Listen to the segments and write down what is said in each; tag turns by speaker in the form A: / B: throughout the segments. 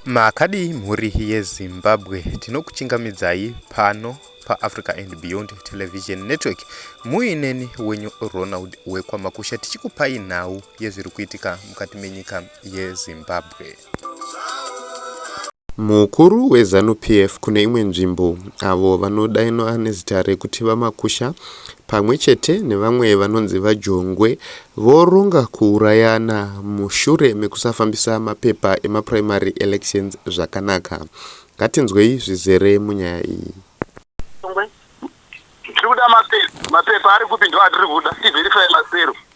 A: makadii mhuri yezimbabwe tinokuchingamidzai pano paafrica and beyond television network muineni wenyu ronald wekwamakusha tichikupai nhau yezviri kuitika mukati menyika yezimbabwe Mukuru weZanu PF kune imwe nzvimbo avo vanodainwa nezita rekuti VaMakusha pamwe chete nevamwe vanonzi VaJongwe voronga kuurayana mushure mekusafambisa mapepa emaprimary elections zvakanaka. Ngatinzwei zvizere munyaya iyi.
B: Tiri kuda mapepa, mapepa ari kupi ndo atiri kuda, tiverify masero.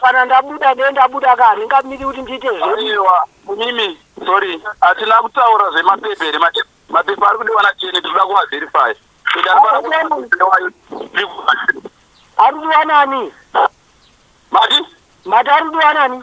B: kana ndabuda ne
C: ndabuda ka handingamiri kuti ndiite zveiwa kunimi
B: sorry hatina kutaura zvemapepa here mapepa ari kudiwa nacheni tinoda kuvaverify ari
C: kudiwa nani mati mati ari kudiwa nani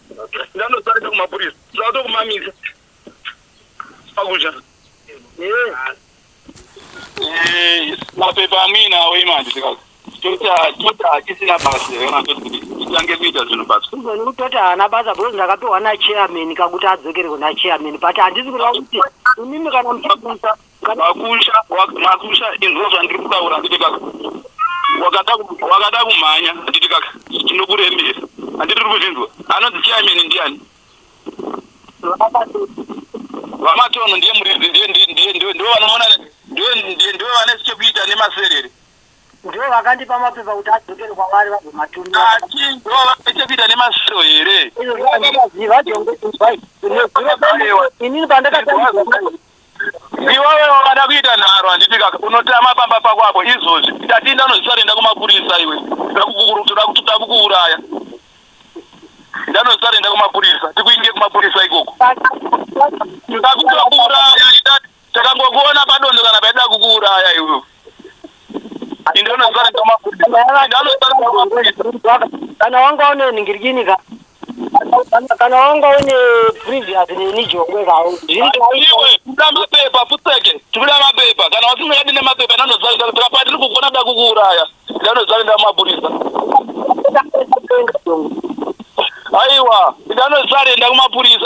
B: ndanotarisa kumapurisa ndatokumamisa pakudya mapepa amuinawo imanje sikazi tisina basa titange kuita zvinhu basa kuzoni kutoti haana basa
C: because ndakapiwa nachairman kakuti adzokere kunachairman but handisi kuda kuti imimi kana muchiisa Makusha,
B: makusha inzwa zvandiri kutaura handiti kaka. Wakada wakada kumhanya handiti kaka. Tinokurembera. Handiti uri kuzvinzwa. Anonzi chairman ndiani? Vamatono ndiye muridzi ndiye ndiye ndiye ndiye ndiye vanomona ndiye ndiye ndiye vane chekuita nemaserere. Ndiye
C: vakandipa mapepa kuti adzokere kwavari vabve
B: matumbi. Ati ndiye vane chekuita nemasero
C: here? Inini pandakatanga
B: Iwewe wakada kuita nharo handiti kaka unotama pamba pako apo izvozvi Tatinda unozvisari enda kumapurisa iwe ndakukukuru toda kutoda kukuuraya Nda unozvisari enda kumapurisa tikuinge kumapurisa ikoko Ndakutokuuraya Ita takangokuona padondo kana paida kukuuraya iwewe kana wanga une
C: ningirikini ka kana wanga une previous neni jongwe kao zviriuda
B: mapepa futseke tikuda mapepa kana wasingadi nemapepa ndanozaapa tiri kugona da kukuuraya ndanozaenda kumapurisa aiwa ndanozaenda kumapurisa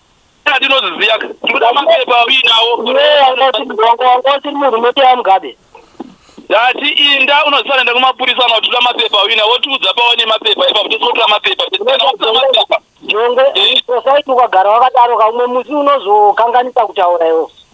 B: ndinoziziya ndikuda mapepa uinawo
C: wangosiri munhu unoteya mugabe ndati
B: inda unosanenda kumapurisa kana kutira mapepa uina wotiudza paone mapepa ipapo tisiotira mapepa jongo eh?
C: sosaiti ukagara wakadaro kaumwe musi unozokanganisa kutaura iwo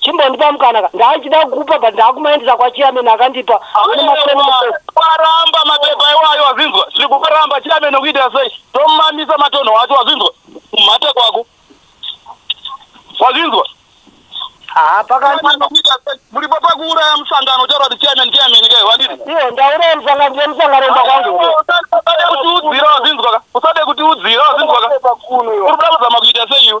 C: chimbondipa mukana ka ndaichida kukupa but ndakumaendesa kwachiameni akandipa
B: waramba mapepa iwayo wazinzwa zviri kuparamba chiameni kuitira sei tomamisa matonho wacho wazinzwa mhate kwako wazinzwa muripo pakuuraya musangano uchaura kuti chiameni chiameni kai wadii iye ndauraya musangano
C: ndiye musangano mba kwangu usade
B: kutiudzira wazinzwa ka usade kutiudzira wazinzwa ka uri kuda kuzama kuita sei iwe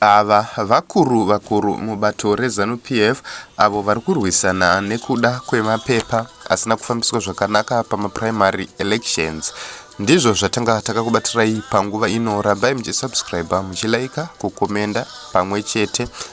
A: Ava vakuru vakuru mubato reZanu PF avo vari kurwisana nekuda kwemapepa asina kufambiswa zvakanaka pamaprimary elections. Ndizvo zvatanga takakubatirai panguva ino. Rambai muchisubscriber, muchilaika, kukomenda pamwe chete